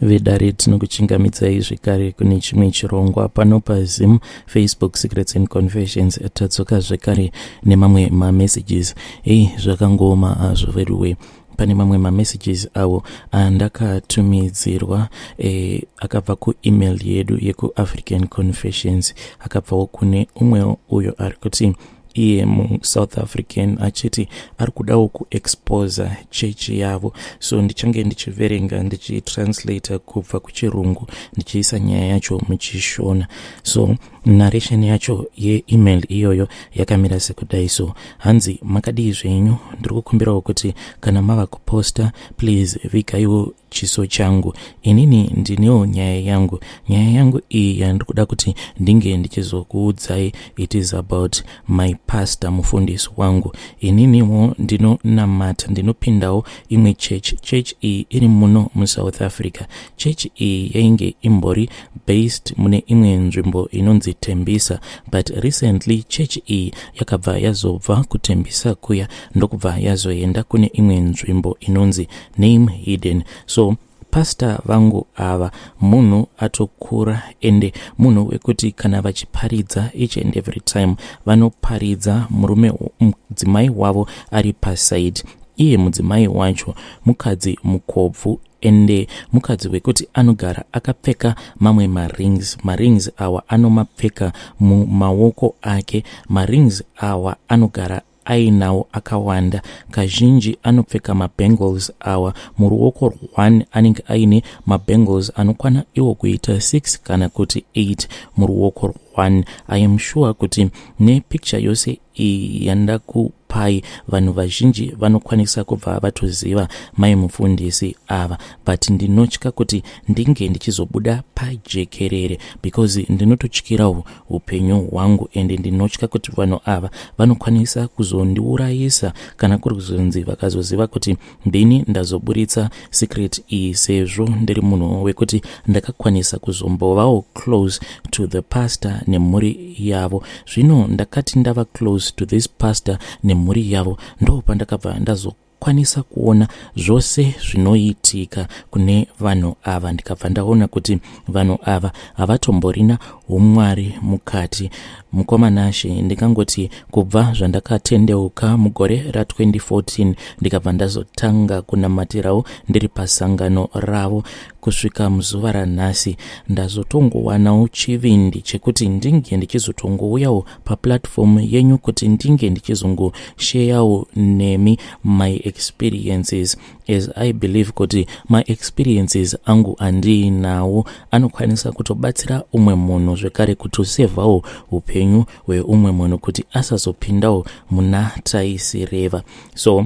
vedare tinokuchingamidzai zvekare kune chimwe chirongwa pano pazim facebook secrets and confessions tadzoka zvekare nemamwe mamessages ei zvakangooma hazvo veduwe pane mamwe mamessages awo andakatumidzirwa e, akabva kuemail yedu yekuafrican confessions akabvawo kune umwewo uyo ari kuti iye musouth african achiti ari kudawo kuexposa chechi yavo so ndichange ndichiverenga ndichitranslata kubva kuchirungu ndichiisa nyaya yacho muchishona so narration yacho yeemail iyoyo yakamira sekudai so hanzi makadii zvenyu ndiri kukumbirawo kuti kana mava kuposta please vigaiwo chiso changu inini ndinewo nyaya yangu nyaya yangu iyi yandiri kuda kuti ndinge ndichizokuudzai it is about my pastor mufundisi wangu ininiwo ndinonamata ndinopindawo imwe church church iyi iri muno musouth africa church iyi yainge imbori based mune imwe nzvimbo inonzi tembisa but recently church iyi yakabva yazobva kutembisa kuya ndokubva yazoenda kune imwe nzvimbo inonzi name hidden so pasta vangu ava munhu atokura ende munhu wekuti kana vachiparidza each and every time vanoparidza murume mudzimai wavo ari pasaidi iye mudzimai wacho mukadzi mukobvu ende mukadzi wekuti anogara akapfeka mamwe marings marings awa anomapfeka mumaoko ake marings awa anogara ainawo akawanda kazhinji anopfeka mabangles awa muruoko rwone anenge aine mabangles anokwana iwo kuita 6 kana kuti 8 muruoko rwone i am sure kuti nepicture yose iyi yandakupai vanhu vazhinji vanokwanisa kubva vatoziva mai mufundisi ava but ndinotya kuti ndinge ndichizobuda pajekerere because ndinototyirawo upenyu hwangu ende ndinotya kuti vanhu ava vanokwanisa kuzondiurayisa kana kuri kuzonzi vakazoziva kuti ndini ndazoburitsa secret iyi sezvo ndiri munhu wekuti ndakakwanisa kuzombovawo close to the pastor nemhuri yavo zvino ndakati ndava close to this pastor nemhuri yavo ndo pandakabva ndazoka kwanisa kuona zvose zvinoitika kune vanhu ava ndikabva ndaona kuti vanhu ava havatomborina umwari mukati mukomanashe ndikangoti kubva zvandakatendeuka mugore ra2014 ndikabva ndazotanga kunamatirawo ndiri pasangano ravo kusvika muzuva ranhasi ndazotongowanawo chivindi chekuti ndinge ndichizotongouyawo paplatform yenyu kuti ndinge ndichizongosheyawo nemi my experiences as i believe kuti maexperiences angu andiinawo anokwanisa kutobatsira umwe munhu zvekare kutosevhawo upenyu hweumwe munhu kuti asazopindawo muna taisireva so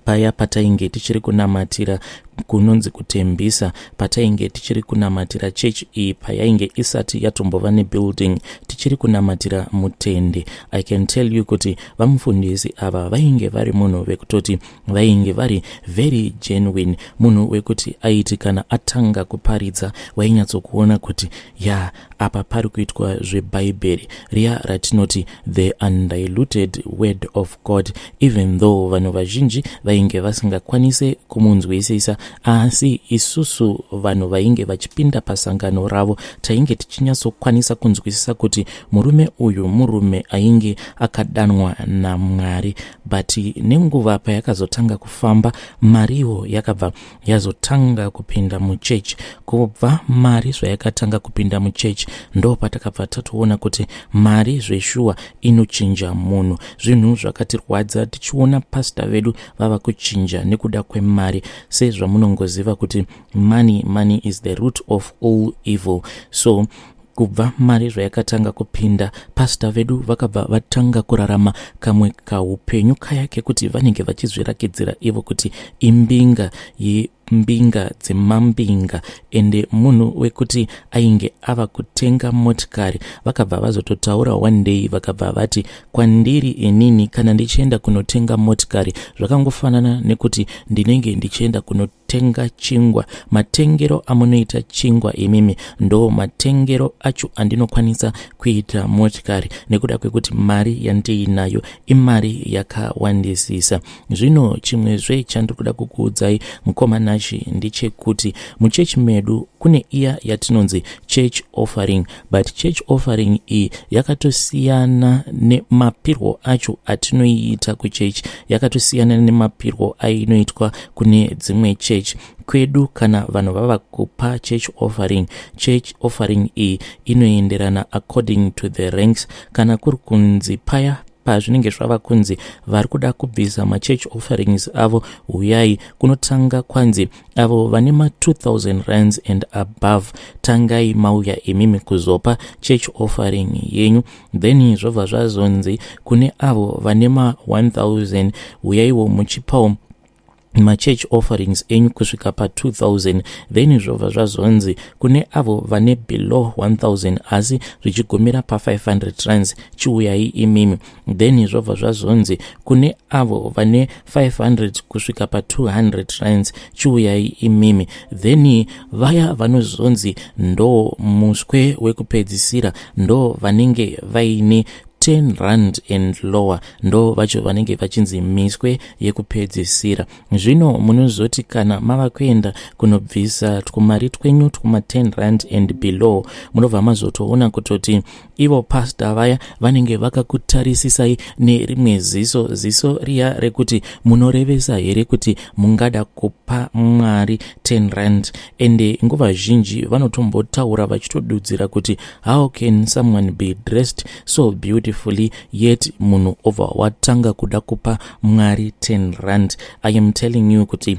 paya patainge tichiri kunamatira kunonzi kutembisa patainge tichiri kunamatira chechi iyi payainge isati yatombova nebuilding tichiri kunamatira mutende i can tell you kuti vamufundisi ava vainge vari munhu vekutoti vainge vari very genuine munhu wekuti aiti kana atanga kuparidza wainyatsokuona kuti ya yeah, apa pari kuitwa zvebhaibheri riya ratinoti the undiluted word of god even though vanhu vazhinji vainge vasingakwanise kumunzwisisa asi isusu vanhu vainge vachipinda pasangano ravo tainge tichinyatsokwanisa kunzwisisa kuti murume uyu murume ainge akadanwa namwari but nenguva payakazotanga kufamba mariwo yakabva yazotanga kupinda muchechi kubva mari zvayakatanga kupinda muchechi ndo patakabva tatoona kuti mari zveshuwa inochinja munhu zvinhu zvakatirwadza tichiona pasta vedu vava kuchinja nekuda kwemari sezvamunongoziva kuti money money is the root of all evil so kubva mari zvayakatanga kupinda pasta vedu vakabva vatanga kurarama kamwe kaupenyu kaya kekuti vanenge vachizvirakidzira ivo kuti imbinga mbinga dzemambinga ende munhu wekuti ainge ava kutenga motikari vakabva vazototaura one day vakabva vati kwandiri inini kana ndichienda kunotenga motikari zvakangofanana nekuti ndinenge ndichienda kuno tenga chingwa matengero amunoita chingwa imimi ndo matengero acho andinokwanisa kuita motikari nekuda kwekuti mari yandiinayo imari yakawandisisa zvino chimwe zve chandiri kuda kukuudzai mukoma nashi ndechekuti muchechi medu kune iya yatinonzi church offering but church offering iyi yakatosiyana nemapirwo acho atinoiita kuchurch yakatosiyana nemapirwo ainoitwa kune dzimwe church kwedu kana vanhu vava kupa church offering church offering iyi inoenderana according to the ranks kana kuri kunzi paya pazvinenge zvava kunzi vari kuda kubvisa machurch offerings avo huyai kunotanga kwanzi avo vane ma 2000 rands and above tangai mauya imimi kuzopa church offering yenyu then zvobva zvazonzi kune avo vane ma 1000 uyaiwo muchipawo machurch offerings enyu kusvika pa2000 then zvobva zvazonzi kune avo vane below 1000 asi zvichigumira pa500 rands chiuyai imimi then zvobva zvazonzi kune avo vane 500 kusvika pa200 rands chiuyai imimi then vaya vanozonzi ndo muswe wekupedzisira ndo vanenge vaine 10 rand and lower ndo vacho vanenge vachinzi miswe yekupedzisira zvino munozoti kana mava kuenda kunobvisa twumari twenyu twuma 10 rand and below munobva mazotoona kutoti ivo pasta vaya vanenge vakakutarisisai nerimwe ziso ziso riya rekuti munorevesa here kuti mungada kupa mwari 10 rand ende nguva zhinji vanotombotaura vachitodudzira kuti how can someone be dressed so beautifully yet munhu obva watanga kuda kupa mwari 10 rand i am telling you kuti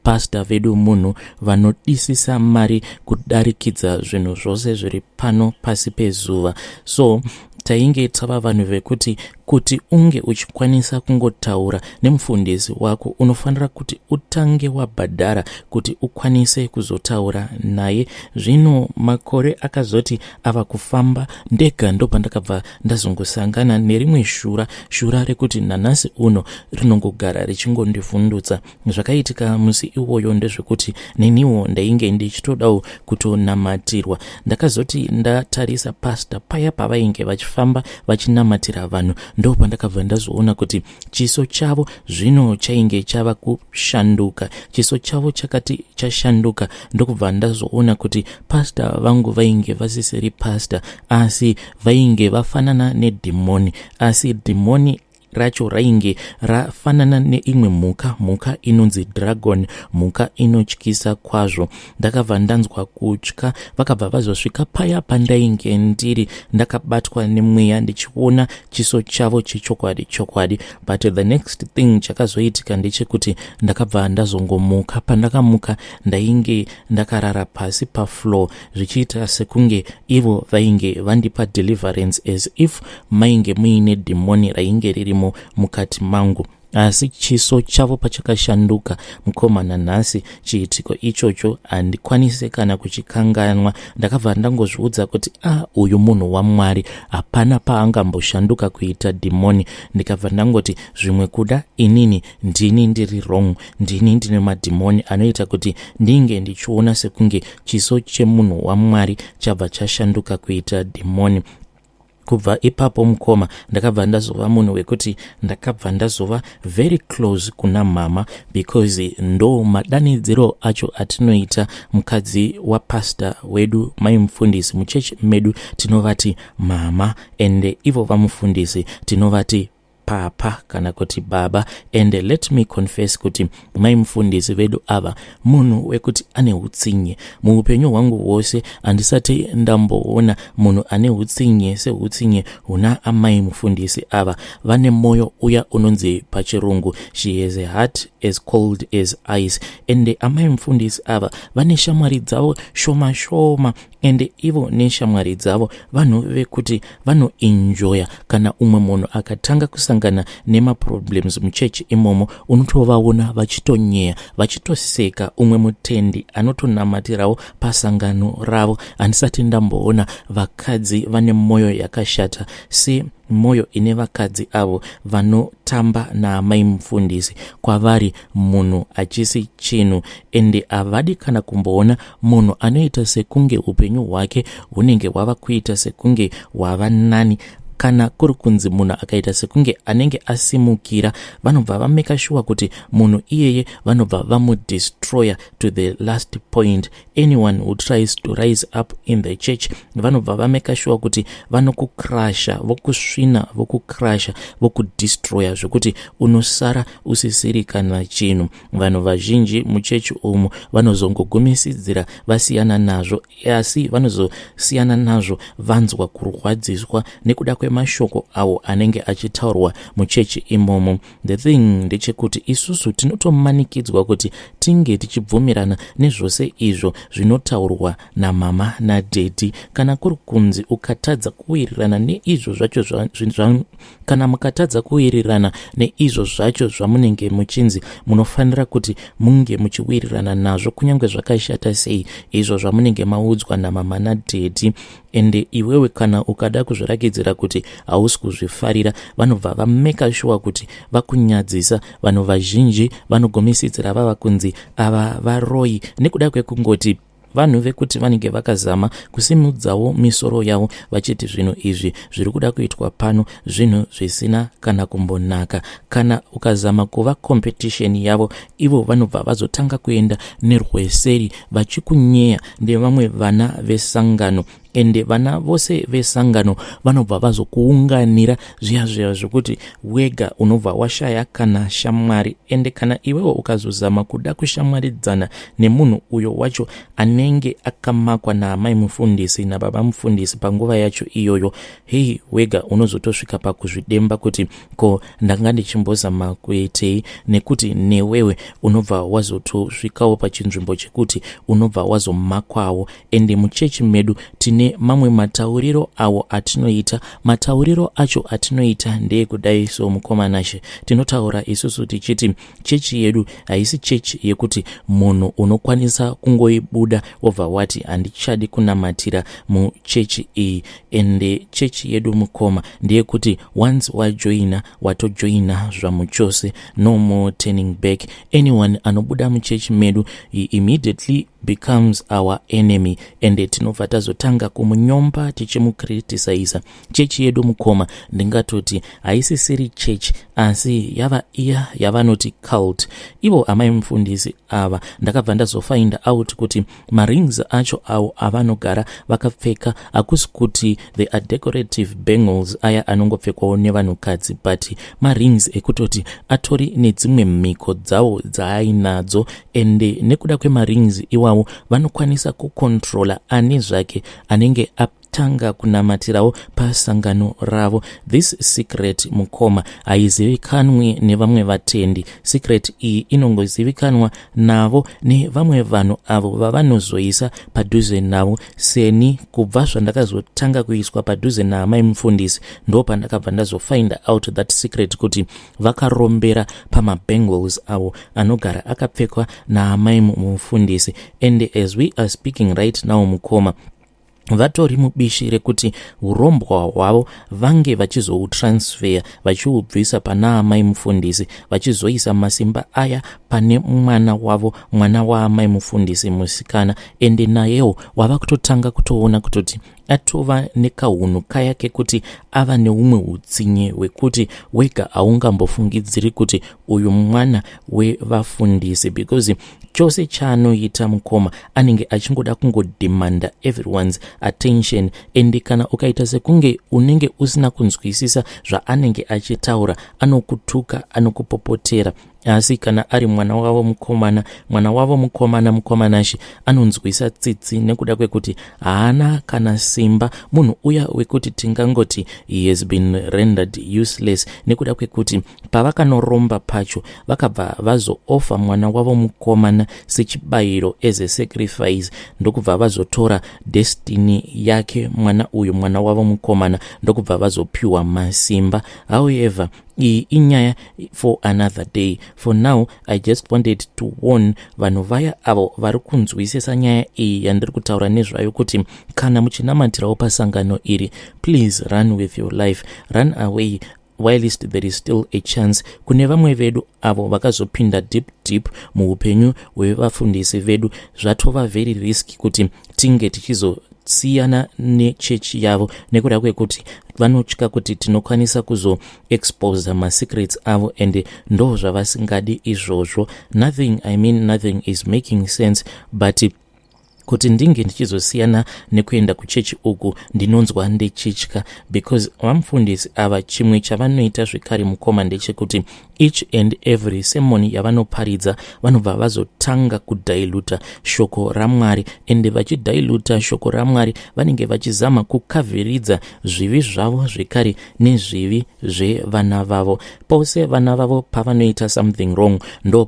Pasta vedu munhu vanodisisa mari kudarikidza zvinhu zvose zviri pano pasi pezuva so tainge tava vanhu vekuti kuti unge uchikwanisa kungotaura nemufundisi wako unofanira kuti utange wabhadhara kuti ukwanise kuzotaura naye zvino makore akazoti ava kufamba ndega ndopandakabva ndazongosangana nerimwe shura shura rekuti nanhasi uno rinongogara richingondivhundutsa zvakaitika musi iwoyo ndezvekuti neniwo ndainge ndichitodawo kutonamatirwa ndakazoti ndatarisa pasta paya pavainge vachifamba vachinamatira vanhu ndo pandakabva ndazoona kuti chiso chavo zvino chainge chava kushanduka chiso chavo chakati chashanduka ndokubva ndazoona kuti pasta vangu vainge vasisiri pasta asi vainge vafanana nedhimoni asi dhimoni racho rainge rafanana neimwe mhuka mhuka inonzi dragon mhuka inotyisa kwazvo ndakabva ndanzwa kutya vakabva vazosvika paya pandainge ndiri ndakabatwa nemweya ndichiona chiso chavo chechokwadi chokwadi but the next thing chakazoitika ndechekuti ndakabva ndazongomuka pandakamuka ndainge ndakarara pasi pafloor zvichiita sekunge ivo vainge vandipa deliverance as if mainge muine dhimoni rainge ririmo mukati mangu asi chiso chavo pachakashanduka mukomana nhasi chiitiko ichocho handikwanise kana kuchikanganwa ndakabva ndangozviudza kuti a ah, uyu munhu wamwari hapana paangamboshanduka kuita dhimoni ndikabva ndangoti zvimwe kuda inini ndini ndiri wrong ndini ndine madhimoni anoita kuti ndinge ndichiona sekunge chiso chemunhu wamwari chabva chashanduka kuita dhimoni kubva ipapo mukoma ndakabva ndazova munhu wekuti ndakabva ndazova very close kuna mhama because ndo madanidziro acho atinoita mukadzi wapastor wedu mai mufundisi muchechi medu tinovati mhama and ivo vamufundisi tinovati papa kana kuti baba and let me confess kuti mai mufundisi vedu ava munhu wekuti ane utsinye muupenyu hwangu hwose handisati ndamboona munhu ane utsinye seutsinye huna amai mufundisi ava vane mwoyo uya unonzi pachirungu she has a heart as cold as ice ende amai mufundisi ava vane shamwari dzavo shoma shoma ende ivo neshamwari dzavo vanhu vekuti vanoenjoya kana umwe munhu akatanga kusangana nemaproblems muchechi imomo unotovaona vachitonyeya vachitoseka umwe mutendi anotonamatirawo pasangano ravo handisati ndamboona vakadzi vane mwoyo yakashata se mwoyo ine vakadzi avo vanotamba naamai mufundisi kwavari munhu achisi chinhu ende havadi kana kumboona munhu anoita sekunge upenyu hwake hunenge hwava kuita sekunge hwava nani kana kuri kunzi munhu akaita sekunge anenge asimukira vanobva vameka shuwa kuti munhu iyeye vanobva vamudestroyer to the last point anyone who tries to rise up in the church vanobva vameka shuwa kuti vanokukrasha vokusvina vokukrasha vokudistroya zvekuti unosara usisiri kana chinhu vanhu vazhinji muchechi umu vanozongogumisidzira vasiyana nazvo asi vanozosiyana nazvo vanzwa kurwadziswa nekuda kwemashoko awo anenge achitaurwa muchechi imomo The thing ndechekuti isusu tinotomanikidzwa kuti tinge tichibvumirana nezvose izvo zvinotaurwa namama nadhedhi kana kuri kunzi ukatadza kuwirirana neizvo zvacho zva, zva, kana mukatadza kuwirirana neizvo zvacho zvamunenge muchinzi munofanira kuti munge muchiwirirana nazvo kunyange zvakashata sei izvo zvamunenge maudzwa namama nadhedhi ende iwewe kana ukada kuzvirakidzira kuti hausi kuzvifarira vanobva vameka shuwa kuti vakunyadzisa vanhu vazhinji vanogomisidzira vava kunzi ava varoyi nekuda kwekungoti vanhu vekuti vanenge vakazama kusimudzawo misoro yavo vachiti zvinhu izvi zviri kuda kuitwa pano zvinhu zvisina kana kumbonaka kana ukazama kuva kompetisheni yavo ivo vanobva vazotanga kuenda nerweseri vachikunyeya nevamwe vana vesangano ende vana vose vesangano vanobva vazokuunganira zviya zviya zvekuti wega unobva washaya kana shamwari ende kana iwewo ukazozama kuda kushamwaridzana nemunhu uyo wacho anenge akamakwa naamai mufundisi nababa mufundisi panguva yacho iyoyo hei wega unozotosvika pakuzvidemba kuti ko ndanga ndichimbozama kuitei nekuti newewe unobva wazotosvikawo pachinzvimbo chekuti unobva wazomakwawo ende muchechi medu tine mamwe matauriro awo atinoita matauriro acho atinoita ndeyekudai so mukomanashe tinotaura isusu tichiti chechi yedu haisi chechi yekuti munhu unokwanisa kungoibuda wobva wati handichadi kunamatira muchechi iyi ende chechi yedu mukoma ndeyekuti once wajoina watojoina zvamuchose no more turning back anyone anobuda muchechi medu he immediately becomes our enemy ende tinobva tazotanga kumunyomba tichimukritisaisa chechi yedu mukoma ndingatoti haisisiri chechi asi yava iya yavanoti cult ivo amai mufundisi ava ndakabva ndazofainda out kuti marings acho awo avanogara vakapfeka hakusi kuti the are decorative bangles aya anongopfekwawo nevanhukadzi but marings ekutoti atori nedzimwe mhiko dzawo dzaainadzo ende nekuda kwemarings iwawo vanokwanisa kukontrola ani zvake anenge ap tanga kunamatirawo pasangano ravo this secret mukoma haizivikanwi nevamwe vatendi secret iyi inongozivikanwa navo nevamwe vanhu avo vavanozoisa padhuze navo seni kubva zvandakazotanga kuiswa padhuze naamai mufundisi ndo pandakabva ndazofind out that secret kuti vakarombera pamabangles avo anogara akapfekwa naamai mufundisi and as we are speaking right now mukoma vatori mubishi rekuti urombwa hwavo vange vachizoutransfeya vachiubvisa pana amai mufundisi vachizoisa masimba aya pane mwana wavo mwana waamai mufundisi musikana ende nayewo wava kutotanga kutoona kutoti atova nekahunhu kaya kekuti ava neumwe utsinye hwekuti wega haungambofungidziri kuti uyu mwana wevafundisi because chose chaanoita mukoma anenge achingoda kungodemanda everyone's attention and kana ukaita sekunge unenge usina kunzwisisa zvaanenge achitaura anokutuka anokupopotera asi kana ari mwana wavo mukomana mwana wavo mukomana mukomanashi anonzwisa tsitsi nekuda kwekuti haana kana simba munhu uya wekuti tingangoti he has been rendered useless nekuda kwekuti pavakanoromba pacho vakabva vazoofa mwana wavo mukomana sechibayiro as a sacrifice ndokubva vazotora destiny yake mwana uyu mwana wavo mukomana ndokubva vazopiwa masimba however iyi inyaya for another day for now i just wanted to warn vanhu vaya avo vari kunzwisisa nyaya iyi yandiri kutaura nezvayo kuti kana muchinamatirawo pasangano iri please run with your life run away whilst there is still a chance kune vamwe vedu avo vakazopinda deep deep muupenyu hwevafundisi vedu zvatova very risk kuti tinge tichizosiyana nechechi yavo nekuda kwekuti vanotya kuti tinokwanisa kuzoexposa masecrets avo and ndo zvavasingadi izvozvo nothing i mean nothing is making sense but kuti ndinge ndichizosiyana nekuenda kuchechi uku ndinonzwa ndichitya because vamufundisi ava chimwe chavanoita zvekare mukoma ndechekuti each and every semoni yavanoparidza vanobva vazotanga kudhailuta shoko ramwari ende vachidhailuta shoko ramwari vanenge vachizama kukavhiridza zvivi zvavo zvekare nezvivi zvevana vavo pose vana vavo pavanoita something wrong ndo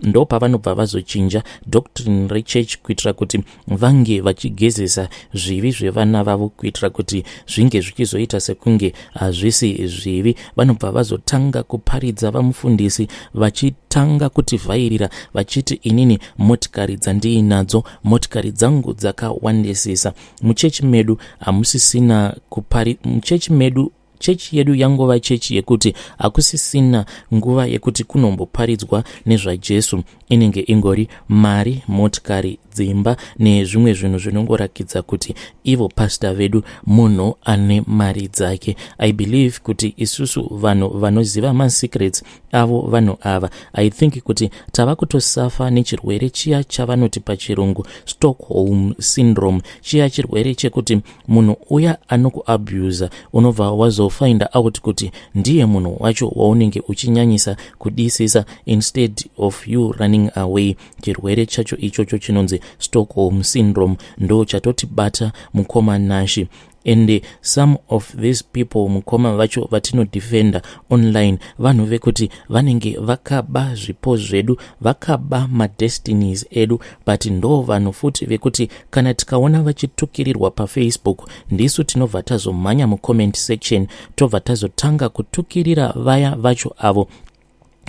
ndopavanobva vazochinja doctrine rechurch kuitira kuti vange vachigezesa zvivi zvevana vavo kuitira kuti zvinge zvichizoita sekunge hazvisi zvivi vanobva vazotanga kuparidza vamufundisi vachitanga kutivhairira vachiti inini motikari dzandiinadzo motikari dzangu dzakawandisisa muchechi medu hamusisina kupari muchechi medu chechi yedu yangova chechi yekuti hakusisina nguva yekuti kunomboparidzwa nezvajesu inenge ingori mari motikari dzimba nezvimwe zvinhu zvinongorakidza kuti ivo pasta vedu munhu ane mari dzake i believe kuti isusu vanhu vanoziva masecrets avo vanhu ava i think kuti tava kutosafa nechirwere chiya chavanoti pachirungu stockholm syndrome chiya chirwere chekuti munhu uya anokuabuser unobva wazofinda out kuti ndiye munhu wacho waunenge uchinyanyisa kudisisa instead of you running away chirwere chacho ichocho chinonzi stockholm syndrome ndo chatotibata mukoma nashi and some of these people mukoma vacho vatinodefenda online vanhu vekuti vanenge vakaba zvipo zvedu vakaba madestinies edu but ndo vanhu futi vekuti kana tikaona vachitukirirwa pafacebook ndisu tinobva tazomhanya mucomment section tobva tazotanga kutukirira vaya vacho avo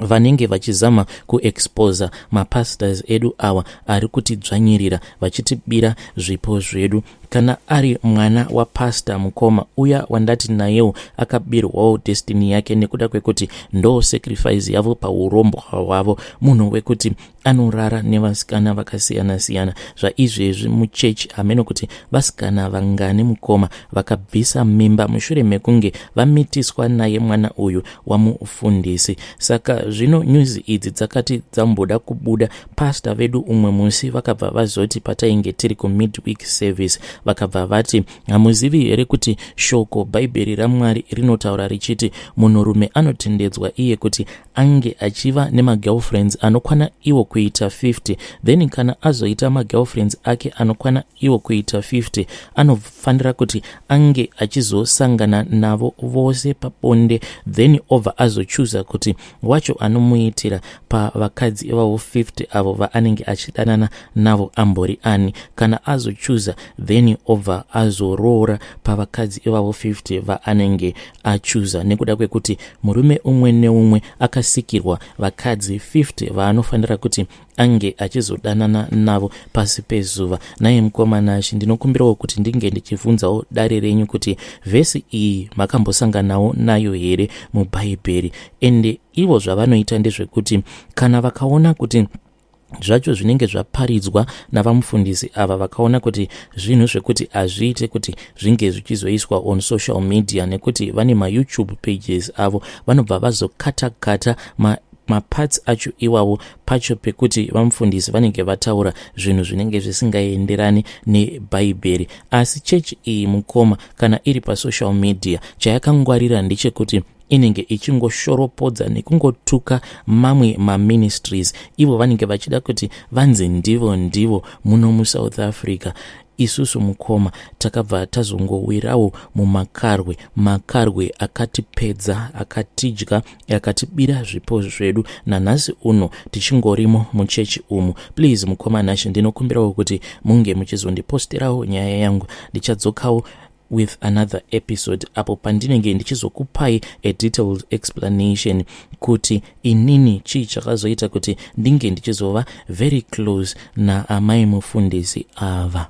vanenge vachizama kuexposa mapastors edu awa ari kutidzvanyirira vachitibira zvipo zvedu kana ari mwana wapastor mukoma uya wandati nayewo akabirwawo destiny yake nekuda kwekuti ndo sacrifice yavo paurombwa hwavo munhu wekuti anorara nevasikana vakasiyana-siyana zvaizvezvi muchechi hameno kuti vasikana vangani mukoma vakabvisa mimba mushure mekunge vamitiswa naye mwana uyu wamufundisi saka zvino nyuzi idzi dzakati dzamboda kubuda pasta vedu umwe musi vakabva vazoti patainge tiri kumidweek service vakabva vati hamuzivi here kuti shoko bhaibheri ramwari rinotaura richiti munhurume anotendedzwa iye kuti ange achiva nemagirlfriends anokwana iwo kuita 50 then kana azoita magirlfriends ake anokwana iwo kuita 50 anofanira kuti ange achizosangana navo vose pabonde then obva azochuza kuti wacho anomuitira pavakadzi ivavo 50 avo vaanenge achidanana navo ambori ani kana azochuza then obva azoroora pavakadzi ivavo 50 vaanenge achuza nekuda kwekuti murume umwe neumwe akasikirwa vakadzi 50 vaanofanira kuti ange achizodanana navo pasi pezuva naye mukoma nashe ndinokumbirawo kuti ndinge ndichibvunzawo dare renyu kuti vhesi iyi makambosanganawo nayo here mubhaibheri ende ivo zvavanoita ndezvekuti kana vakaona kuti zvacho zvinenge zvaparidzwa navamufundisi ava vakaona kuti zvinhu zvekuti hazviite kuti zvinge zvichizoiswa on social media nekuti vane mayoutube pages avo vanobva vazokata kata ma maparts acho iwawo pacho pekuti vamufundisi vanenge vataura zvinhu zvinenge zvisingaenderani nebhaibheri asi chechi iyi mukoma kana iri pasocial media chayakangwarira ndechekuti inenge ichingoshoropodza nekungotuka mamwe maministries ivo vanenge vachida kuti vanzi ndivo ndivo muno musouth africa isusu mukoma takabva tazongowirawo mumakarwe makarwe akatipedza akatidya akatibira zvipo zvedu nanhasi uno tichingorimo muchechi umu please mukoma nashe ndinokumbirawo kuti munge muchizondipostirawo nyaya yangu ndichadzokawo with another episode apo pandinenge ndichizokupai a detailed explanation kuti inini chii chakazoita kuti ndinge ndichizova very close naamai mufundisi ava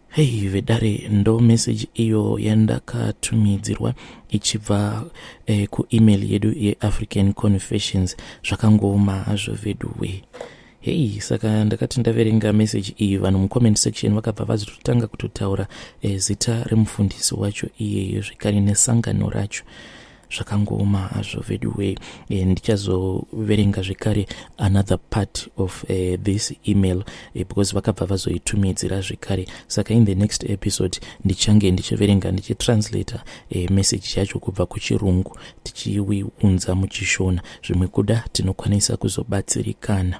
hei vedare ndo message iyo yandakatumidzirwa ichibva eh, kuemail yedu yeafrican confessions zvakangooma hazvo veduwee hei saka ndakati ndaverenga meseji iyi vanhu mucomment section vakabva vazitotanga kutotaura e, zita remufundisi wacho iyeyo zvekare nesangano racho zvakangooma hazvo veduway e, ndichazoverenga zvekare another part of e, this email e, because vakabva vazoitumidzira zvekare saka in the next episode ndichange ndichiverenga ndichitranslator e, message yacho kubva kuchirungu tichiiunza muchishona zvimwe kuda tinokwanisa kuzobatsirikana